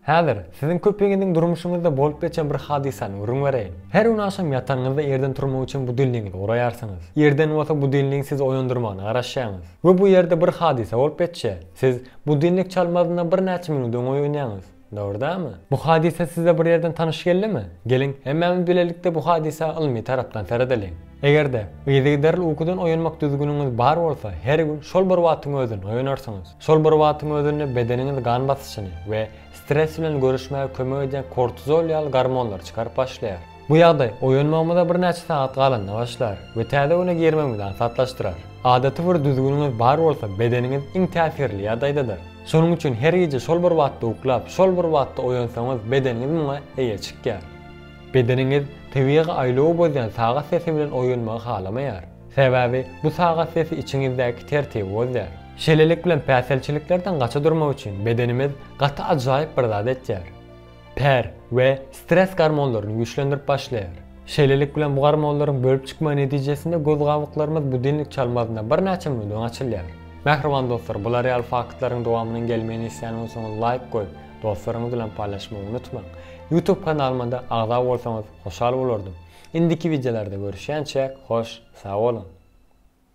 Häzir siziň köpiňiziň durmuşyňyzda bolup geçen bir hadysany gürrüň bereýin. Her gün agşam ýatanyňyzda ýerden turmak üçin budilnigiňizi guraýarsyňyz. Ýerden bolsa budilnigiň sizi oýandyrmagyna garaşýaňyz. We bu ýerde bir hadysa bolup geçýär. Siz budilnik çalmazyndan birnäçe minut öň oýanýaňyz. Dogrydanmy? Bu hadysa size bir ýerden tanyş geldimi? Geliň, hemmämiz bilelikde bu hadysa ylmy tarapdan seredeliň. Eger-de, yzygiderli ukudan oýanmak düzgüniňiz bar bolsa, her gün şol bir wagtyň özünde oýanarsyňyz. Şol bir wagtyň özünde bedeniňiz gan basyşyny we stres bilen göreşmäge kömek edýän kortizol ýaly gormonlary çykaryp başlaýar. Bu ýagdaý oýanmagymyza birnäçe sagat galanda başlar we täze güne girmegimizi aňsatlaşdyrar. Adaty bir düzgüniňiz bar bolsa, bedeniňiz iň täsirli ýagdaýdadyr. Şonuň üçin her gije şol bir wagtda uklap, şol bir wagtda oýansaňyz, bedeniňiz muňa eýe çykýar. Bedeniňiz tebigy aýlawy bozýan sagat sesi bilen oýanmagy halamaýar. Sebäbi bu sagat sesi içiňizdäki tertibi bozýar. Şeýlelik bilen päsgelçiliklerden gaça durmak üçin bedenimiz gaty ajaýyp bir zat etýär. ter we stres gormonlaryny güýçlendirip başlaýar. Şeýlelik bilen bu gormonlaryň bölüp çykmagy netijesinde göz gabyklarymyz budilnik çalmazynda birnäçe minut öň açylýar. Mähriban dostlar bular ýaly faktlaryň dowamynyň gelmegini isleýän bolsaňyz laýk goýup dostlaryňyz bilen paýlaşmagy unutmaň. Youtube kanalymada agza bolsaňyz hoşal bolardym. Indiki wideolarda görüşýänçäk hoş sag boluň.